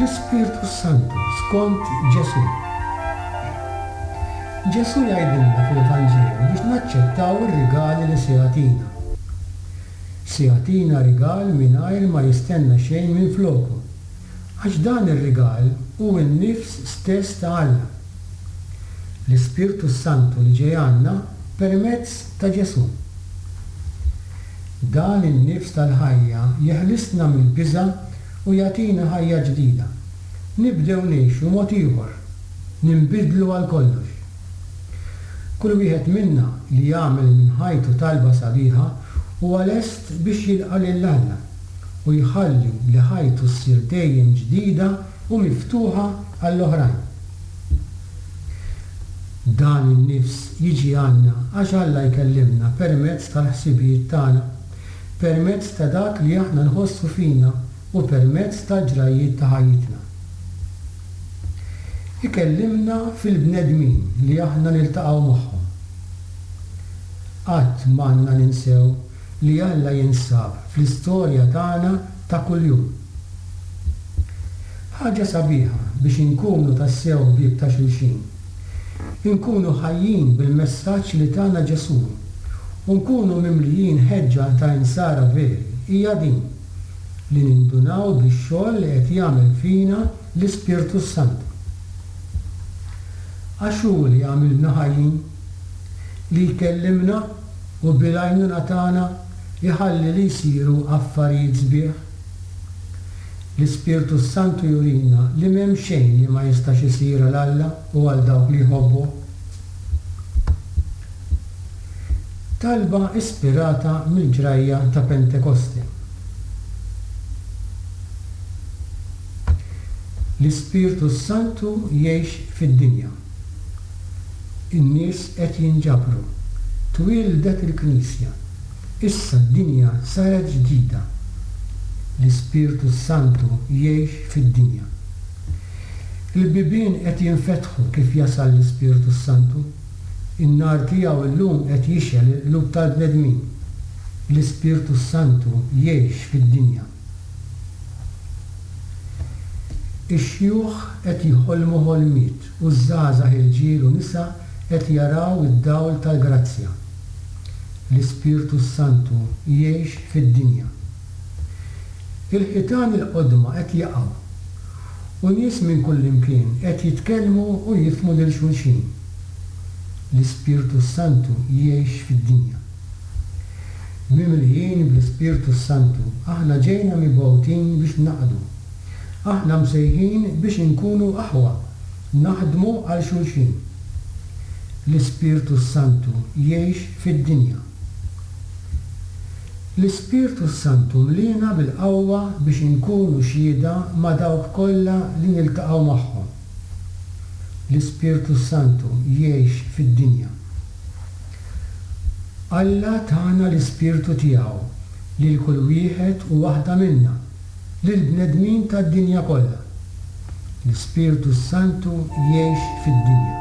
L-Ispirtu s-Santu skont Ġesù. Ġesù jgħidilna fl-Evanġelju biex naċċettaw ir-rigali li se jagħtina. Se jagħtina rigal mingħajr ma jistenna xejn minfloku, għax dan ir-rigal hu n-nifs stess ta' Alla. L-Ispirtu s-Santu li ġej għandna permezz ta' Ġesù. Dan in-nifs tal-ħajja jeħlisna mill-biża' u jagħtina ħajja ġdida. Nibdew ngħixu mod ieħor, ninbidlu għal kollox. Kull wieħed minna li jagħmel minn ħajtu talba sabiħa huwa lest biex jilqa' lil Alla. u jħalli li ħajtu ssir dejjem ġdida u miftuħa għall-oħrajn. Dan in-nifs jiġi għandna għax Alla jkellimna permezz tal-ħsibijiet tagħna, permezz ta' dak li aħna nħossu fina u permezz tal-ġrajjiet ta' ħajjitna. Ikellimna fil-bnedmin li aħna niltaqgħu magħhom. Qatt m'għandna ninsew li Alla jinsab fl-istorja tagħna ta' kuljum. Ħaġa sabiħa biex inkunu tassew ħbieb ta' xulxin, inkunu ħajjin bil-messaġġ li tana Ġesù u nkunu mimlijin ħeġġa ta' Insara veri hija din, li nindunaw bix-xogħol li qed jagħmel fina l-Ispirtu s-Santu. Għax hu li għamilna ħajjin. li jkellimna u bil-għajnuna tagħna jħalli li jsiru affarijiet sbieħ. L-Ispirtu s-Santu jurina li m'hemm xejn li ma jistax isir għal Alla u għal dawk li jħobbuh. Talba ispirata mill-ġrajja ta' Pentekoste. L-Ispirtu s-Santu jgħix fid-dinja. In-nies qed jinġabru. Twieldet il-Knisja. Issa d-dinja saret ġdida. L-Ispirtu s-Santu jgħix fid-dinja. Il-bibien qed jinfetħu kif jasal l-Ispirtu s-Santu. In-nar tiegħu llum qed jixgħel il-qlub tal-bnedmin. L-Ispirtu s-Santu jgħix fid-dinja. Ix-xjuħ qed jħolmu ħolmiet u ż-żgħażagħ irġiel u nisa qed jaraw id-dawl tal-grazzja. L-Ispirtu s-Santu jgħix fid-dinja. Il-ħitan il-qodma qed jaqgħu u nies minn kullimkien qed jitkellmu u jifhmu lil xulxin. L-Ispirtu s-Santu jgħix fid-dinja. Mimlijin bl-Ispirtu s-Santu, aħna ġejna mibgħutin biex naqdu. Aħna msejħin biex inkunu aħwa, naħdmu għal xulxin. L-Ispirtu s-Santu jgħix fid-dinja. L-Ispirtu s-Santu mliena bil-qawwa biex inkunu xhieda ma' dawk kollha li niltaqgħu magħhom. L-Ispirtu s-Santu jgħix fid-dinja. Alla tana l-Ispirtu tiegħu lil kull wieħed u waħda minna, lill-bnedmin tad-dinja kollha. L-Ispirtu s-Santu jgħix fid-dinja.